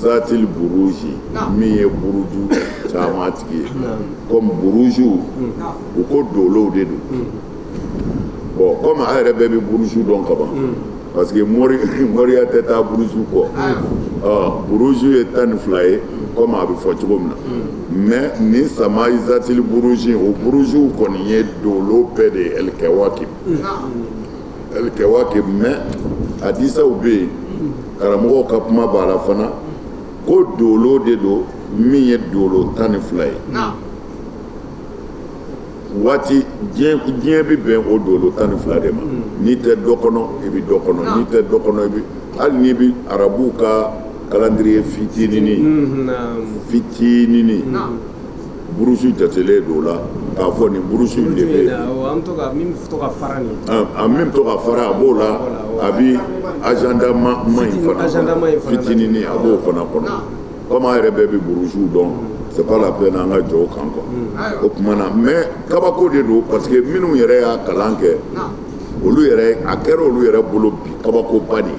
Zatili buruji min ye buruju caman tigi ye ko buruju u ko dolow de don bɔn kɔmi a yɛrɛ bɛɛ bɛ buruju dɔn kaban parce que mori moriya tɛ taa buruju kɔ buruju ye tan ni fila ye kɔmi a bɛ fɔ cogo min na mais nin samai zatili buruji o buruju kɔni ye dolo bɛɛ de ye alkawaki Alkawakib mais hadisaw bɛ yen karamɔgɔ ka kuma b'a la fana ko dolo de don min ye dolo tan ni fila ye waati diɲɛ bɛ bɛn o dolo tan ni fila de ma n'i tɛ dɔ kɔnɔ i bɛ dɔ kɔnɔ n'i tɛ dɔ kɔnɔ i bɛ hali n'i bɛ arabuw ka calendrier fitinin fitinin buruju jatelen don o la k'a fɔ nin buruju in de bɛ yen, awɔ, an bɛ to ka min bɛ to ka fara nin a min bɛ to ka fara a b'o la a bɛ agenda ma ma in fana agenda ma in kɔnɔ fana na. fitininin a b'o fana kɔnɔ komi an yɛrɛ bɛɛ bɛ burujuw dɔn c'est pas la peine an ka jɔ o kan quoi o tuma na mais kabako de don parce que minnu yɛrɛ y'a kalan kɛ olu yɛrɛ a kɛra olu yɛrɛ bolo bi kabakoba de ye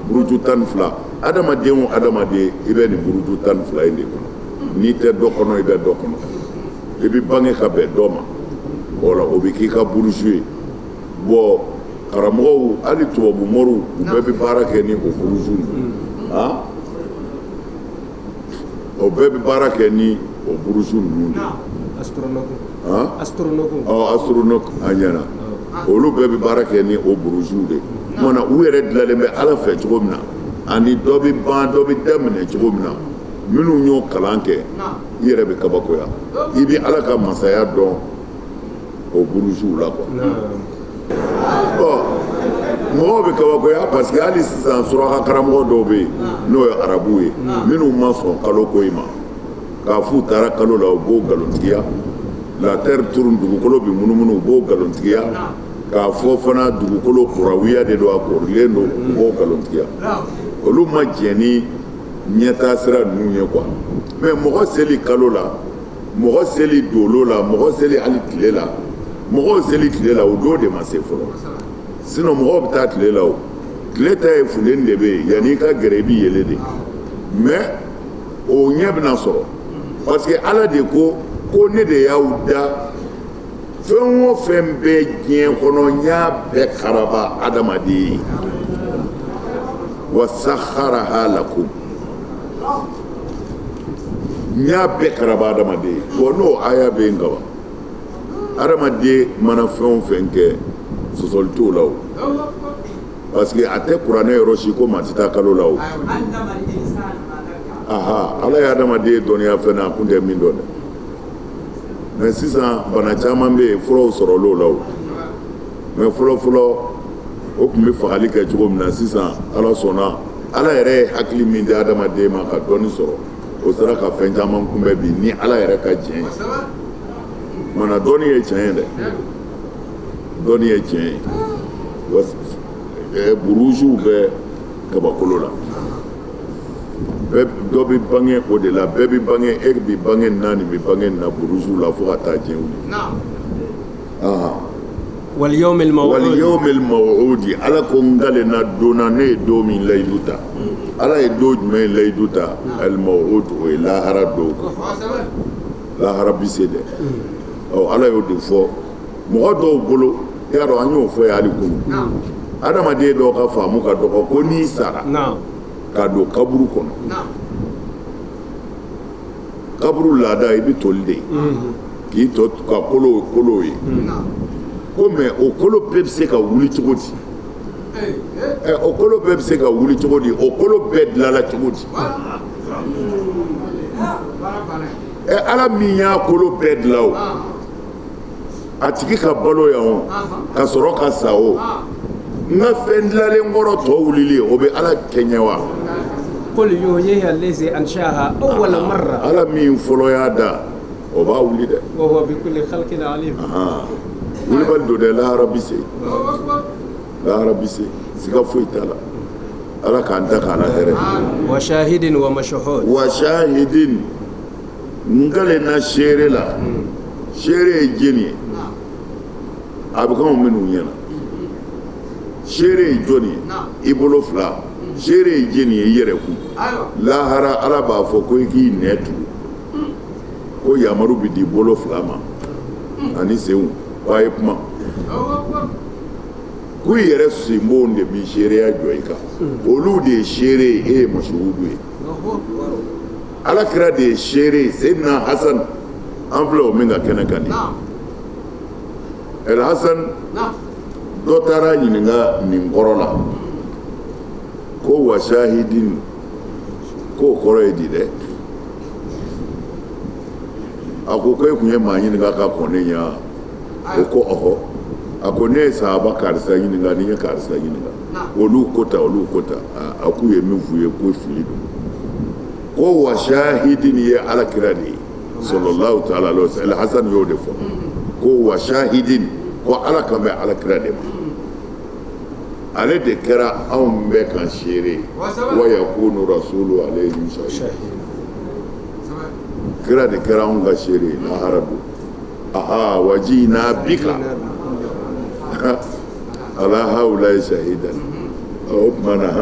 buruju tan ni fila adamaden o adamaden i bɛ nin buruju tan ni fila in de kɔnɔ n'i tɛ dɔ kɔnɔ i bɛ dɔ kɔnɔ i bɛ bange ka bɛn dɔ ma wala o bɛ k'i ka buruju ye bɔn karamɔgɔw hali tubabu moriw u bɛɛ bɛ baara kɛ ni o buruju ah o bɛɛ bɛ baara kɛ ni o buruju ninnu de astrologue a ɲɛna olu bɛɛ bɛ baara kɛ ni o buruju de o tuma na u yɛrɛ dilanlen bɛ ala fɛ cogo min na ani dɔ bɛ ban dɔ bɛ daminɛ cogo min na minnu y'o kalan kɛ i yɛrɛ bɛ kabakoya i bɛ ala ka masaya dɔn o burujuw la quoi mɔgɔw bɛ kabakoya parce que hali sisan suraka karamɔgɔ dɔw bɛ yen n'o ye arabuw ye minnu ma sɔn kalo ko in ma k'a f'u taara kalo la u b'o nkalontigiya la terre tourne dugukolo bɛ munumunu u b'o nkalontigiya k'a fɔ fana dugukolo kurawiya de don a korilen don u b'o nkalontigiya olu ma jɛn ɲɛtaa sira ninnu ye quoi mais mɔgɔ seli kalo la mɔgɔ seli dolo la mɔgɔ seli hali tile la mɔgɔw seli tile la o don de ma se fɔlɔ sinon mɔgɔw bɛ taa tile la o tile ta ye funteni de bɛ yen yanni i ka gɛrɛ i bɛ yele de mais o ɲɛ bɛna sɔrɔ parce que ala de ko ko ne de y'aw da fɛn o fɛn bɛ diɲɛ kɔnɔ n y'a bɛɛ karaba adamaden ye wa sahara lakum n y'a bɛɛ karaba adamaden ye wa n'o aya bɛ yen kaban adamaden mana fɛn o fɛn kɛ sɔsɔli t'o la o parce que a tɛ kuranɛ yɔrɔ si ko maa tɛ taa kalo la o aha ala ye adamaden dɔnniya fɛn na a kun tɛ min dɔn dɛ mɛ sisan bana caman bɛ yen furaw sɔrɔla o la mɛ fɔlɔfɔlɔ o tun bɛ fagali kɛ cogo min na sisan ala sɔnna ala yɛrɛ ye hakili min di adamaden ma ka dɔnni sɔrɔ o sera ka fɛn caman kunbɛn bi ni ala yɛrɛ ka diɲɛ mana dɔnni ye tiɲɛ ye dɛ dɔnni ye tiɲɛ ye burujuw bɛ kabakolo la dɔ bɛ bange o de la bɛɛ bɛ bange e bɛ bange naani bɛ bange na buruju la fo ka taa diɲɛ wuli wal yawmil mawudi ala ko n kalen na don na ne ye don min layidu ta ala ye don jumɛn ye layidu ta al mawudi o ye lahara don lahara bɛ se dɛ ala y'o de fɔ mɔgɔ dɔw bolo i y'a dɔn an y'o fɔ yan hali kunu adamaden dɔw ka faamu ka dɔgɔ ko n'i sara ka don kaburu kɔnɔ kaburu laada i bɛ toli de ye mhm. k'i tɔ kɛ kolo kolo ye ko mɛ o kolo bɛɛ bɛ se ka wuli cogo di eh, eh. o kolo bɛɛ bɛ se ka wuli cogo di o kolo bɛɛ dilala cogo di ala min y'a kolo bɛɛ dilan o a tigi ka balo yan ka sɔrɔ ka sa o n ka fɛn dilalen kɔrɔ tɔ wulili o bɛ ala kɛɲɛ wa ala min fɔlɔ y'a da o b'a wuli dɛ kulubali don dɛ lahara bɛ se lahara bɛ se siga foyi t'a la ala k'an da k'an hɛrɛ wa wa n kalen na seere la seere ye jɔni ye a bɛ k'aw minnu ɲɛ na seere ye jɔni ye i bolo fila seere ye jɔni ye i yɛrɛ kun lahara ala b'a fɔ ko i k'i nɛ tugu ko yamaru bɛ di bolo fila ma ani senw ko a ye kuma ko i yɛrɛ senbonw de bi seereya jɔ i kan olu de ye seere ye e ye masuhudu ye ala kira de ye se se na hasan fila o min ka kɛnɛ ka di hasan dɔ taara a ɲininka nin kɔrɔ la ko wa sahidin k'o kɔrɔ ye di dɛ a ko ko e tun ye maa ɲininka ka kɔn ne ɲɛ o ko ɔhɔ a ko ne ye sahaba karisa ɲininka n ye karisa ɲininka olu ko tan olu ko tan a k'u ye min f'i ye ko fili don ko wa sahidi nin ye ala kira de ye sɔrɔla ta ala hasan y'o de fɔ ko wa sahidi ko ala kan bɛ ala kira de ma ale de kɛra anw bɛɛ ka seere wa yakuna rasulu ala kira de kɛra anw ka seere lahara don aa wa jina bika ala hawulayi sahidan o tuma na h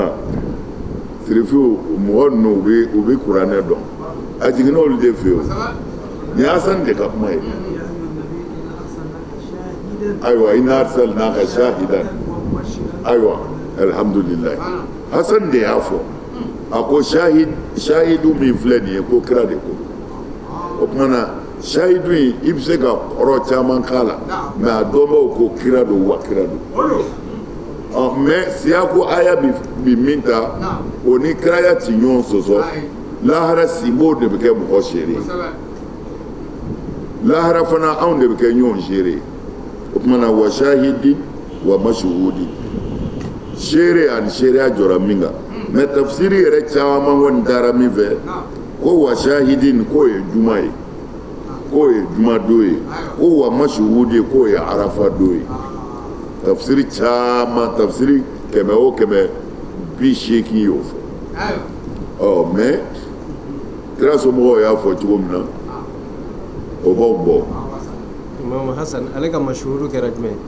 Sirifu mɔgɔ ninnu u bɛ u bɛ kuranɛ dɔn a jiginna olu de fɛ nin ye hasan de ka kuma ye ayiwa ina arsalnaka sahidan ayiwa alihamdulilahi hasan de y'a fɔ a ko sa sahidu min filɛ nin ye ko kira de ko o tuma na sahidu in i bɛ se ka kɔrɔ caman k'a la mɛ a dɔnbaw ko kira don wa kira don ɔ mɛ siya ko aya bi min ta o ni kiraya tɛ ɲɔgɔn sɔsɔ lahara sibo de bɛ kɛ mɔgɔ seere lahara fana anw de bɛ kɛ ɲɔgɔn seere o tuma na wa sahidi wa masuhudin seere ani seereya jɔra min kan mɛ tafsiri yɛrɛ caman kɔni taara min fɛ ko wa sahidin k'o ye juma ye k'o ye jumadon ye ko wa masuhudi k'o ye arafa don ye tafsiri caman tafsiri kɛmɛ o kɛmɛ bi seegin y'o fɔ ɔ mɛ kira somɔgɔw y'a fɔ cogo min na o b'aw bɔ. imamu hasan ale ka masuhudi kɛra jumɛn ye.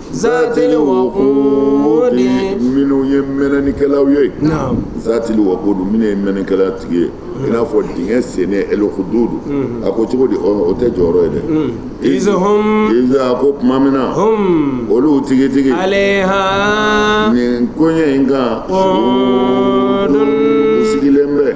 Zatil wakudi minnu ye mɛnɛnikɛlaw ye zatil wakudi minnu ye mɛnɛnikɛla tigi ye i n'a fɔ dingɛ sen el uhududu a ko cogo di o tɛ jɔyɔrɔ ye dɛ iz a ko tuma min na olu tigitigi h nin koɲɛ in kan sigilen bɛ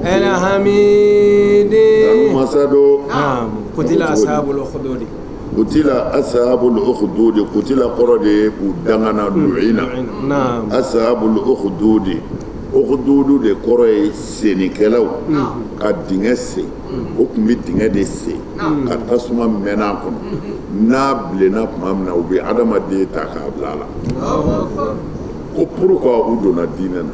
Sahidin wa masuhudi kutila asahabul uhududi kutila asahabul uhududi kutila kɔrɔ de ye u dangana luyina asahabul uhududi uhududu de kɔrɔ ye sennikɛlaw ka dingɛ sen u tun bɛ dingɛ de sen ka tasuma mɛnɛ a kɔnɔ n'a bilenna tuma min na u bɛ adamaden ta k'a bila a la ko pourquoi u donna dinɛ na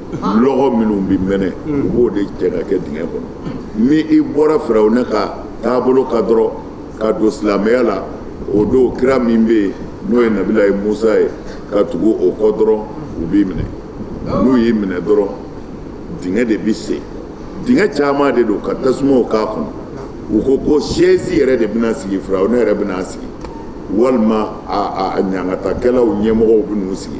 minnu bɛ mɛnɛ u b'o de jɛ ka kɛ dingɛ kɔnɔ ni i bɔra firawuna ka taabolo kan dɔrɔn ka don silamɛya la o don kira min bɛ yen n'o ye nabilayi musa ye ka tugu o kɔ dɔrɔn u b'i minɛ n'u y'i minɛ dɔrɔn dingɛ de bɛ sen dingɛ caman de don ka tasuma k'a kɔnɔ u ko ko sɛsi yɛrɛ de bɛna sigi firawuna yɛrɛ bɛna sigi walima ɲangatakɛlaw ɲɛmɔgɔw bɛ n'u sigi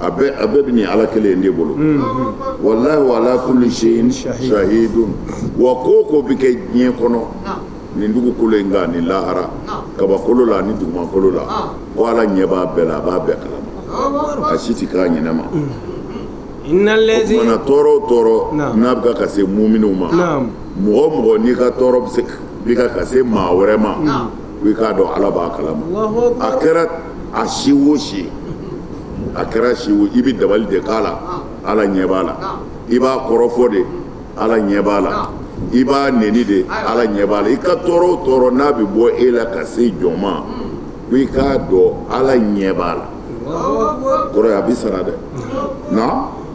a a bɛɛ bɛ nin ala kelen in de bolo walahu ala kuli sayin sahidun wa ko o ko bɛ kɛ diɲɛ kɔnɔ nin dugukolo in kan ni lahara kabakolo la ni dugukolo la ko ala ɲɛ b'a bɛɛ la a b'a bɛɛ kalama a si tɛ k'a ɲinɛma tɔɔrɔ o tɔɔrɔ n'a bɛ ka se muminiw ma mɔgɔ o mɔgɔ n'i ka tɔɔrɔ bɛ se ka se maa wɛrɛ ma i k'a dɔn ala b'a kalama a kɛra a si wo si a kɛra si i bɛ dabali de k'a la ala ɲɛ b'a la i b'a kɔrɔfɔ de ala ɲɛ b'a la i b'a neni de ala ɲɛ b'a la i ka tɔɔrɔ o tɔɔrɔ n'a bɛ bɔ e la ka se jɔn ma ko i k'a dɔn ala ɲɛ b'a la kɔrɔ ye a bɛ sara dɛ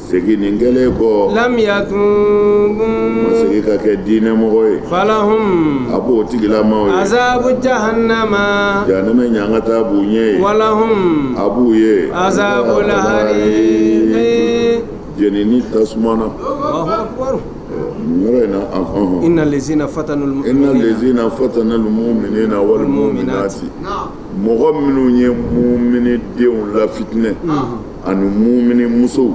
segin kɛlen kɔ lam yatubu masakɛ ka kɛ diinɛmɔgɔ ye falahum a b'o tigilama azabu jahanama ɲangata b'u ye walahum a b'u ye azabu la jeni tasuma na yɔrɔ inna lazina fata fatanu muminina wal muminati mɔgɔ minnu ye mumini cɛw lafitinɛ ani mumini musow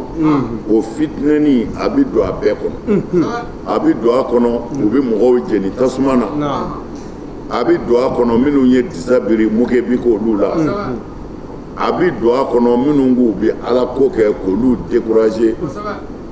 o fitinɛni a bɛ don a bɛɛ kɔnɔ a bɛ don a kɔnɔ u bɛ mɔgɔw jeni tasuma na a bɛ don a kɔnɔ minnu ye disa biri moquer bɛ k'olu la a bɛ don a kɔnɔ minnu k'u bɛ ala ko kɛ k'olu décourager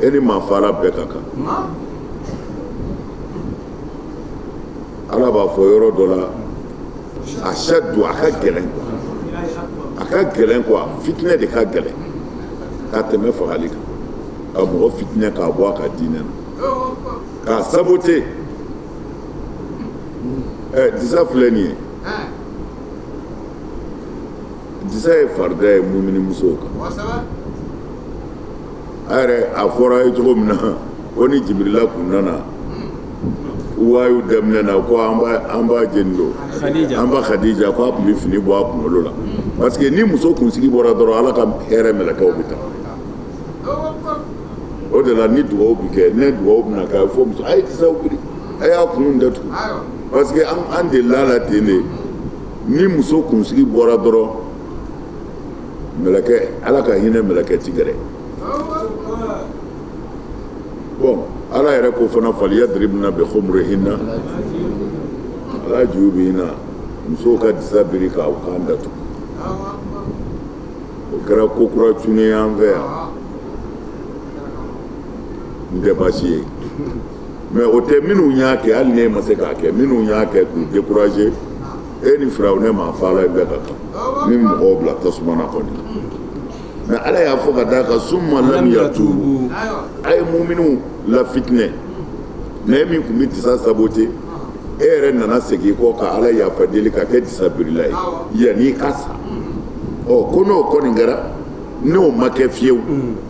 e ni maa faga bɛɛ ka kan ala b'a fɔ yɔrɔ dɔ la ashadu a ka gɛlɛn a ka gɛlɛn kuwa fitinɛ de ka gɛlɛn ka tɛmɛ fagali kan ka mɔgɔ fitinɛ k'a bɔ a ka diinɛ na k'a sabote ɛ disa filɛ nin ye disa ye farida ye mumini musow kan kosɛbɛ a yɛrɛ a fɔra ye cogo min na ko ni jibirila kun nana wayu daminɛ na ko an ba an ba jɔni don Khadija. an ba Khadija ko a tun bɛ fini bɔ a kunkolo la parce que ni muso kunsigi bɔra dɔrɔn ala ka hɛrɛ mɛlɛkɛw bɛ taa o de la ni dugawu bɛ kɛ ni dugawu bɛna kɛ a bɛ fɔ musow a ye disaw biri a y'a kun datugu ayiwa parce que an an delila a la ten de ni muso kunsigi bɔra dɔrɔn mɛlɛkɛ ala ka hinɛ mɛlɛkɛ tɛ gɛrɛ bon na ala yɛrɛ ko fana faliyadiribina bi kumurihina ala juyubihina musow ka disa biri k'u kan datugu o kɛra ko kura cunnen an fɛ yan n tɛ baasi ye mɛ o tɛ minnu y'a kɛ hali n'i ma se k'a kɛ minnu y'a kɛ k'u décourager e ni firawuna ni maafaala bɛɛ ka kan ni mɔgɔw bila tasuma na kɔni mɛ ala y'a fɔ ka d'a kan summa lam yatuubu a ye muminiw lafitinɛ mɛ e min tun bɛ disa saboter e yɛrɛ nana segin kɔ ka ala yafa deli ka kɛ disa birila ye yanni i ka sa ɔ ko n'o kɔni kɛra n'o ma kɛ fewu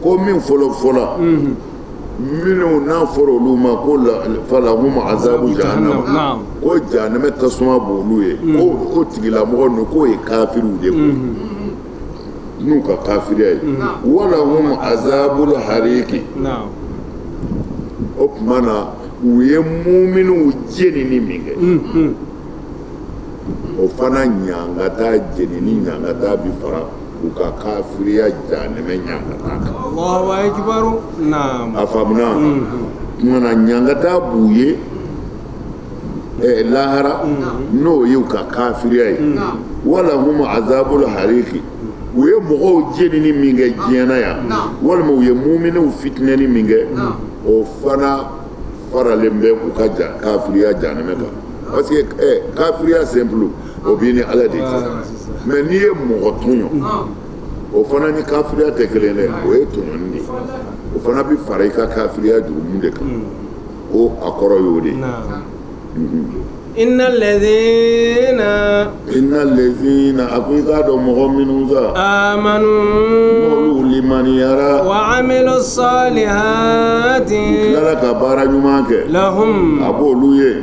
ko min fɔlɔ fɔlɔ minnu n'a fɔra olu ma ko falahum azabu jahanama ko janɛmɛ tasuma b'olu ye ko tigilamɔgɔ k'o ye kafiriw de ye n'u ka kafiriya ye walahum azabul hariki o tuma na u ye muminiw jenini min kɛ o fana ɲangata jenini ɲangata bi fara u ka kafiriya jahanɛmɛ ɲangata kan. Alahu akibaru, naamu. A faamuna? Unhun. Tuma na ɲangata b'u ye eh, lahara n'o ye u ka kafiriya ye. Walahum azabul hariki. u ye mɔgɔw jenini min kɛ diɲɛ na yan walima u ye muminiw fitinɛni min kɛ o fana faralen bɛ u ka kafiriya janɛmɛ kan parce que eh, kafiriya simple o b'i ni ala de mɛ n'i ye mɔgɔ tɔɲɔ o fana ni kafiriya tɛ kelen dɛ o ye tɔɲɔni de ye o fana bɛ fara i ka kafiriya jurumu de kan hmm. ko a kɔrɔ y'o de ye Inna lezina Inna lezina a ko i k'a dɔn mɔgɔ minnu sa amanu n'olu limaniyara wa amilu salihati u tilara ka baara ɲuman kɛ lahum a b'olu ye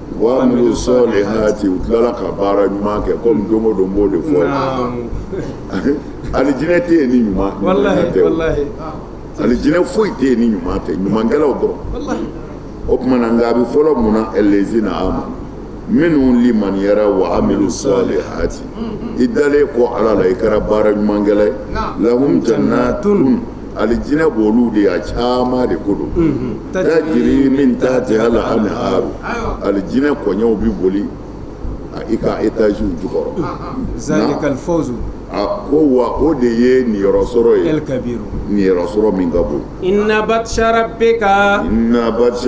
Wa amilu sɔlihati u tilala ka baara ɲuman kɛ comme don o don n b'o de fɔ naamu alijinɛ tɛ ye ni ɲuman tɛ walahi walahi alijinɛ foyi tɛ ye ni ɲuman tɛ ɲumankɛlaw dɔrɔn walahi o tuma na nka a bɛ fɔlɔ mun na ɛllɛzina amanu minnu limaniyara wa amilu sɔlihati i dalen kɔ Ala la i kɛra baara ɲumankɛla ye naam lahum jannaatun alijinɛ b'olu de ye a caman de ko don tajiri min tatihal aniharu alijinɛ kɔɲɛw bɛ boli i ka étage jukɔrɔ a ko wa o de ye niyɔrɔsɔrɔ ye niyɔrɔsɔrɔ min ka bon inna batisa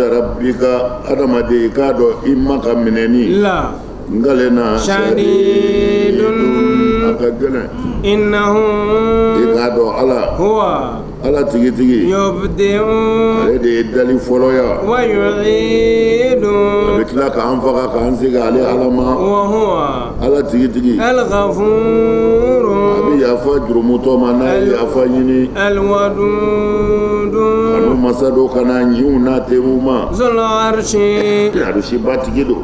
rabbika adamaden i k'a dɔn i ma ka minɛni la na sari a ka gɛlɛn i na i k'a dɔn ala ko ala tigitigi ale de ye dali fɔlɔya wa don bɛ tila k'an faga k'an segin ale ala ma ala tigitigi ala ka fu a bɛ yafa jurumutɔ ma n'a ye yafa ɲini kanu masa don ka ɲiw na te ma alarasibatigi don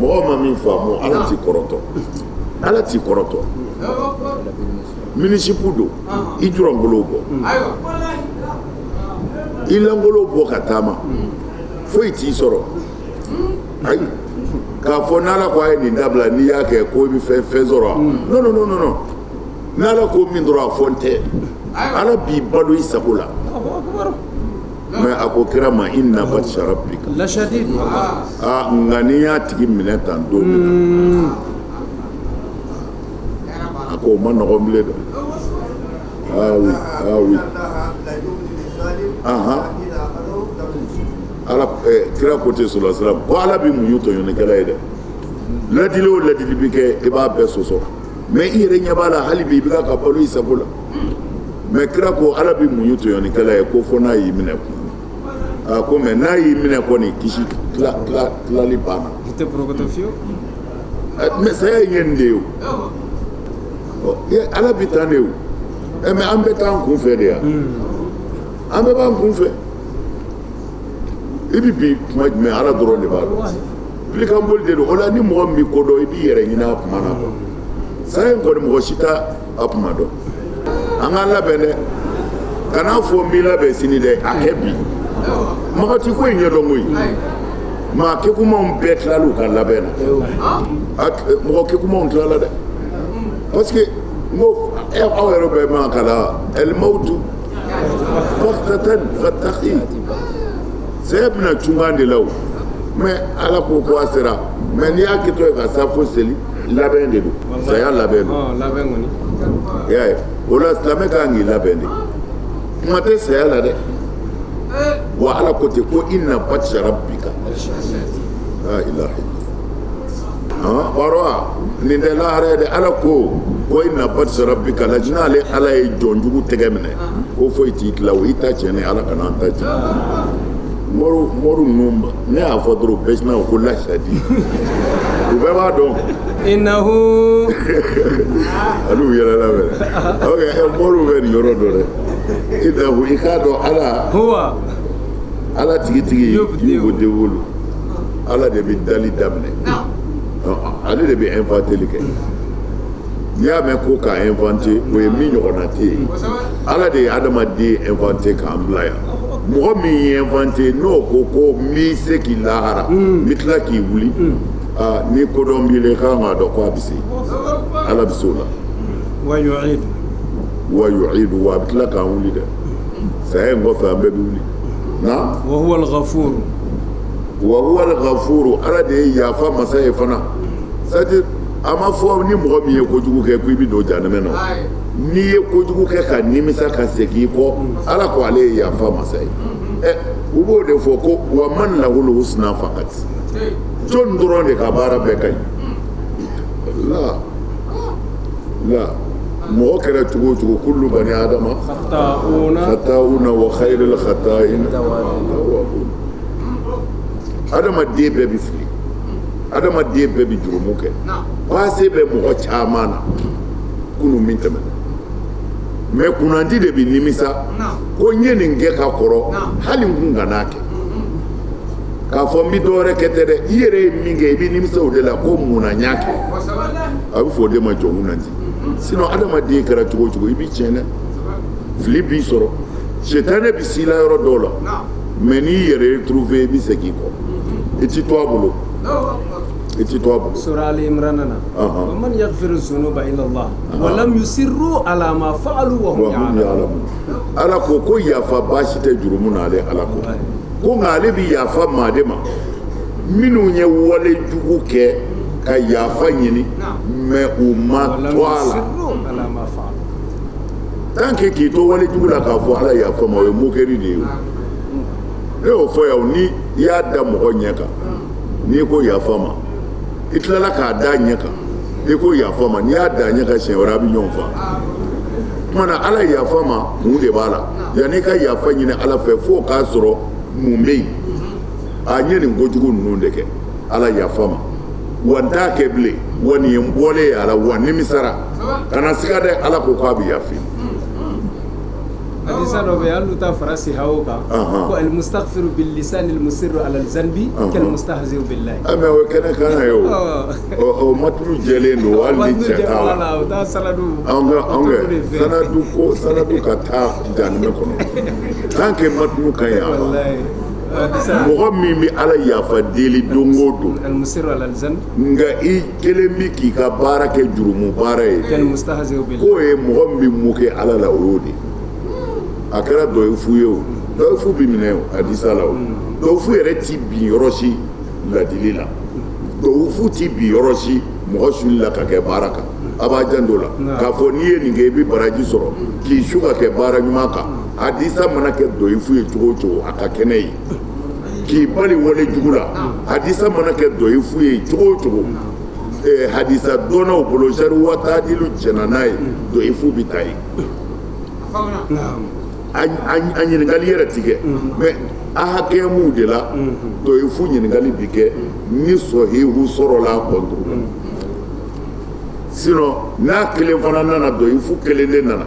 mɔgɔ ma min faamu ala t'i kɔrɔtɔ ala t'i kɔrɔtɔ minizipu don i julankolon bɔ i lankolon bɔ ka taama foyi t'i sɔrɔ ayi k'a fɔ n'ala ko a ye nin dabila n'i y'a kɛ ko i bɛ fɛn fɛn sɔrɔ wa non non non non non n'ala ko min dɔrɔn a fɔ n tɛ ala b'i balo i sago la mais a ko kira ma inna batsha rabbika la shadid aa nka n'i y'a tigi minɛ tan don min na a ko o man nɔgɔn bilen dɛ ah oui ah oui ahan ala kira ko ten sala salam ko ala bɛ muɲu tɔɲɔnikɛla ye dɛ ladili o ladili bɛ kɛ i b'a bɛɛ sɔsɔ mais i yɛrɛ ɲɛ b'a la hali bi i bɛ ka balo i sago la mais kira ko ala bɛ muɲu tɔɲɔnikɛla ye ko fɔ n'a y'i minɛ kun a ko mais n'a y'i minɛ kɔni kisi tilali banna mais saya ye nin de ye o ala bɛ taa de o mais an bɛ taa an kun fɛ de yan an bɛɛ b'an kun fɛ i bɛ bin tuma jumɛn ala dɔrɔn de b'a dɔn kɔnɔli de don o la ni mɔgɔ min b'i kodɔn i b'i yɛrɛ ɲinin a kuma na saya in kɔni mɔgɔ si tɛ a tuma dɔn an k'an labɛn dɛ kan'a fɔ n b'i labɛn sini dɛ a kɛ bi mɔgɔ tɛ ko in ɲɛdɔn koyi maa kegunmanw bɛɛ tilala u ka labɛn na mɔgɔ kegunmanw tilala dɛ parce que n ko aw yɛrɛ bɛ min kalan almawtu baghtatan fataki saya bɛ na cunkan de la o mais ala ko ko a sera mais n'i y'a kɛ to ye ka safo seli labɛn de don saya labɛn ye o la silamɛ ka kan k'i labɛn de tuma tɛ saya la dɛ wa ala ko ten ko inna batsha rabbika wa nin tɛ lahara ye dɛ ala ko ko inna batsha rabbika la shadid ale ala ye jɔnjugu tɛgɛ minɛ ko foyi t'i tila o i ta tiɲɛna ala kana an ta tiɲɛ mɔriw mɔriw ninnu ne y'a fɔ dɔrɔn bɛɛ sinna ko lashadid u bɛɛ b'a dɔn inahu ani yɛrɛ la bɛ ok ɛ mɔriw bɛ nin yɔrɔ dɔn dɛ inahu i k'a dɔn ala huwa ala tigitigi yubdi'u ala de bɛ dali daminɛ ale de bɛ inventeli kɛ n'i y'a mɛn ko k'a inventer o ye min ɲɔgɔnna tɛ yen Ala de ye adamaden inventer k'an bila yan mɔgɔ min y'i inventer n'o ko ko n b'i se lahara n bɛ tila k'i wuli aa ni kodɔn b'i la i kan k'a dɔn ko a bɛ se Ala bɛ se o la wa yu'idu wa yu'idu wa a bɛ tila k'an wuli dɛ saya in kɔfɛ an bɛɛ bɛ wuli na wa huwa al-ghafur wa huwa al-ghafur Ala de ye yafa masa ye fana c'est à dire a ma fɔ ni mɔgɔ min ye kojugu kɛ ko i bɛ don janɛmɛ na n'i ye kojugu kɛ ka nimisa ka segin kɔ ala ko ale ye yafa masa ye ɛ u b'o de fɔ ko wa man lahul husna faqat jɔn dɔrɔn de ka baara bɛɛ ka ɲi a la mɔgɔ kɛra cogo o cogo kullu bani adama khata'una wa khayrul khata'in adamaden bɛɛ bɛ fili adamaden bɛɛ bɛ jurumu kɛ passé bɛ mɔgɔ caman na kunun min tɛmɛ mɛ kunnandi de bɛ nimisa ko n ye nin kɛ ka kɔrɔ hali n kun kan'a kɛ k'a fɔ n bɛ dɔwɛrɛ kɛ tɛ dɛ i yɛrɛ ye min kɛ i bɛ nimisa o de la ko mun na n y'a kɛ a bɛ fɔ o de ma jɔn kunnandi sinɔn adamaden kɛra cogo o cogo i bɛ tiɲɛ dɛ fili b'i sɔrɔ sitanɛ bɛ s'i la yɔrɔ dɔw la mɛ n'i y'i retrouver i bɛ segin kɔ i tɛ to a bolo i tɛ to a bolo sura ali imrana na man yaghfiru zunuba illa wa lam yusirru ala ma fa'alu ala ko ko yafa baasi tɛ jurumu na ale ala ko ko nka ale bɛ yafa maa de ma minnu ye walejugu kɛ ka yafa ɲini mɛ u ma to a la tan kɛ k'i to walejugu la k'a fɔ ala yafa ma o ye moquerie de ye ne y'o fɔ yan ni i y'a da mɔgɔ ɲɛ kan n'i ko yafa ma i tilala k'a da ɲɛ kan i ko yafa ma n'i y'a da ɲɛ kan siɲɛ wɛrɛ a bɛ ɲɔgɔn faa o tuma na ala yafa ma mun de b'a la yanni i ka yafa ɲini ala fɛ fo o k'a sɔrɔ mun bɛ yen a n ye nin kojugu ninnu de kɛ Ala yafa ma wa n t'a kɛ bilen wa nin ye n bɔlen ye a la wa n nimisara kana siga dɛ Ala ko k'a bɛ yafa i ma. Hadisa dɔ bɛ yen hali n'u t'a fara siha o kan, anhan, ko alimusitagifiri bilisani alimusiri alazanibi kalimusitahizi billahi, ɔ mais o ye kɛnɛ kan na ye o, ɔ o matinu jɛlen don hali ni cɛ t'a la, o t'a sanadu, an ka an ka sanadu ko sanadu ka taa jahanɛmɛ kɔnɔ tant que matinu ka ɲi a la mɔgɔ min bɛ Ala yafa deli don o don nka i kelen bɛ k'i ka baara kɛ jurumu baara ye k'o ye mɔgɔ min bɛ mun kɛ Ala la o y'o de ye a kɛra dɔyifu ye o dɔyifu bɛ minɛ hadisa la o dɔyifu yɛrɛ tɛ bin yɔrɔ si ladili la dɔyifu tɛ bin yɔrɔ si mɔgɔ suli la ka kɛ baara kan a b'a janto o la k'a fɔ n'i ye nin kɛ i bɛ baraji sɔrɔ k'i su ka kɛ baara ɲuman kan hadisa mana kɛ dɔyifu ye cogo cogo a ka kɛnɛ ye k'i bali wale jugu la hadisa mana kɛ dɔyifu ye cogo cogo hadisa dɔnnaw bolo jarihi wataadilu jɛnna n'a ye dɔyifu bɛ ta yen a ɲininkali yɛrɛ tɛ kɛ mɛ ahakamuw de la dɔyifu ɲininkali bɛ kɛ ni sɔhihu sɔrɔla kɔnturu la sinɔn n'a kelen fana nana dɔyifu kelen de nana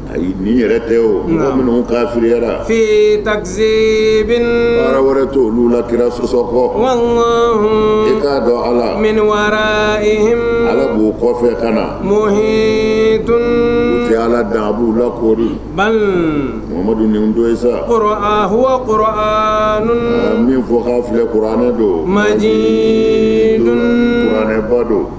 A nin yɛrɛ tɛ o mɔgɔ minnu kafiriyara fi takisibin baara wɛrɛ tɛ olu la kira sɔsɔ kɔ e k'a dɔn ala min wara ala b'o kɔfɛ ka na muhitun tɛ ala dan a b'u lakoori muhamadu nin don sa kɔrɔ a kɔrɔ min fɔ' filɛ kuranɛ don majidun kuranɛba don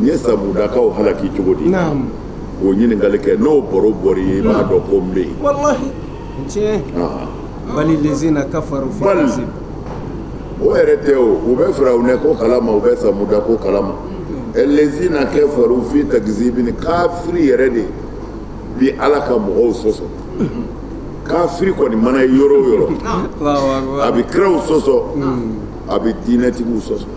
n ye samudakaw halaki cogo di o ɲininkali kɛ n'o baro bɔra yen i b'a dɔn ko n bɛ yen bali lezina kafaru o yɛrɛ tɛ o u bɛ firawuna ko kalama u bɛ samuda ko kalama lezina kafaru fi takisibin kafiri yɛrɛ de bi ala ka mɔgɔw sɔsɔ kafiri kɔni mana ye yɔrɔ yɔrɔ a bɛ kiraw sɔsɔ a bɛ diinɛtigiw sɔsɔ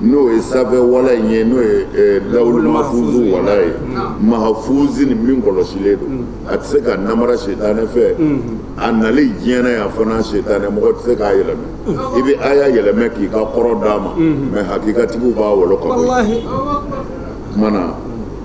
n'o ye sanfɛ wala in ye n'o ye eh, lawuli mahfuzu wala ye mahfuzin min kɔlɔsilen don a tɛ se ka namara sitanɛ fɛ a nali diɲɛ na yan fana sitanɛ mɔgɔ tɛ se k'a yɛlɛmɛ i bɛ aya yɛlɛmɛ k'i ka kɔrɔ d'a ma mɛ hakikatigiw b'a wɔlɔ ka bɔ yen. Walahi. Kumana